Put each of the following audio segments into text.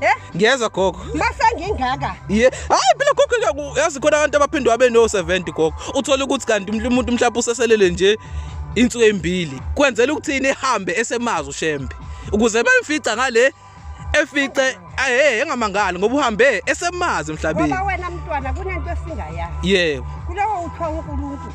Eh? Ngiyezwa gogo. Masengingaka. Yeah. Hayi phela gogo yazi khona abantu abaphindwe abe no 70 gogo. Uthola ukuthi kanti umuntu mhlawumbe useselele nje insuku embili. Kwenzela ukuthini ihambe esemazi ushembe. Ukuze bemfica ngale efice ahe engamangali ngoba uhambe esemazi emhlabeni. Ngoba wena mntwana kunento esingayazi. Yebo. Kulowo uthiwa uNkulunkulu.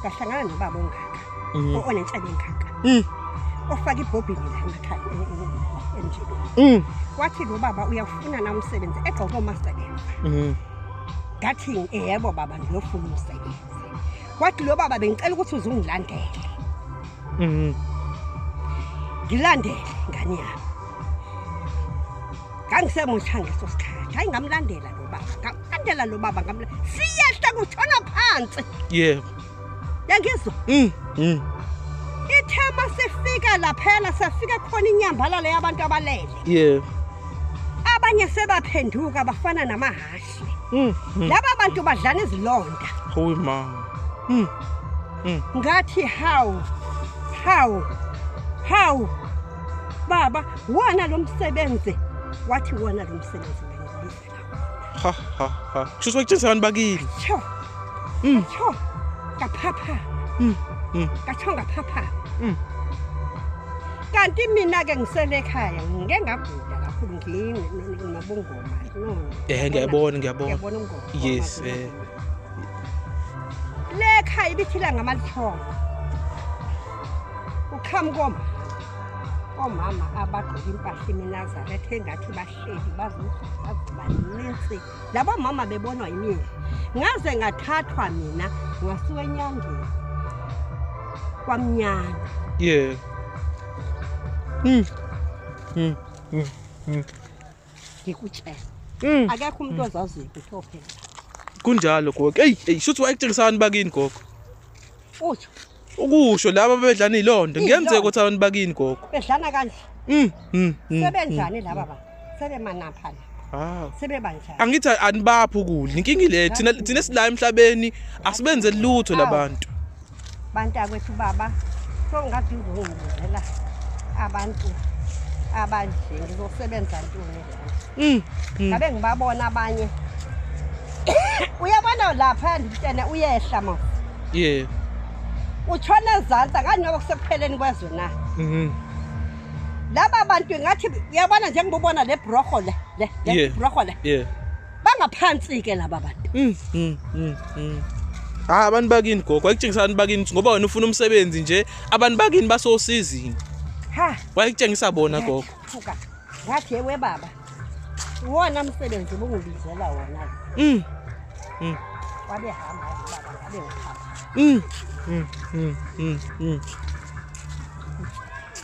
ngahlangana nobaba ongaka mm. onenhlebe engaka mm. ofaka ibhobhini la emakhaya e, e, e, emjibeni mm. wathi lo baba uyafuna na umsebenzi egqoke omasebenzi ngathi yebo baba ngiyofuna umsebenzi wathi lo baba bengicela ukuthi uze ungilandele ngilandele ngani yami ngangisemusha ngeso sikhathi hayi ngamlandela lo baba ngamlandela lo baba ngamlandela siyehla kushona phansi yebo yangizwa mm mm ithema sifika laphela safika khona inyambalala yabantu abalele yebo abanye sebaphenduka bafana namahashi mm, mm. laba bantu badlana izilonda hoyi mama mm. mm. ngathi how how how baba wona lo msebenzi wathi wona lo msebenzi ha ha ha kusho ukuthi wakutshengisa abantu bakile tsho mm. tsho kaphapha mm. mm. katsho ngaphapha mm. kanti mina-ke ngisele ekhaya ngike ngagula kakhulu nginobungoma ehe ngiyabona ngiyabona yes um eh. le khaya ibithila ngamalithoba uqhamuka omama omama abagqoke impahla iminazaretha engathi bahleli bazobaninsi labo mama bebonwa yimina ngaze ngathathwa mina ngasuka enyangeni kwamnyana yeah mm. Mm. Mm. Mm. ngikutshela mm. akekho umuntu mm. ozaziyo ukuthi ophela kunjalo gogo eyi eyi shuthi wayekutshengisani bakini gogo utsho ukusho laba bedlana ilonto ngiyenzeka ukuthi abantu bakini gogo bedlana kanje mm, mm, mm sebenjani mm. laba ba sebemanamphana Ah. Sebebanjani? Angithi anibaphi ukudla. Inkingi le thina thina sila emhlabeni asibenze lutho labantu. bantakwethu baba so ngathi ngizongibuzela abantu abanje ngizosebenza ntoni mm, mm. ngabe ngibabona abanye uyabona lapha nditshene uyehla ma ye utshona ezantsi akani noba kusekupheleni kwezwe na mm-hmm. laba bantu ingathi uyabona njengibubona le broho le le broho le bangaphansi-ke laba bantu mm, mm, mm, mm. hayi abantu bakini gogo wayekutshengisa abantu bakini ngoba wena ufuna umsebenzi nje abantu bakini basosizini ha wayekutshengisa bona gogo thuka ngathi yewe baba wona msebenzi ubungibizela wona mm mm wabe hamba baba ngabe uhamba mm mm mm mm, mm.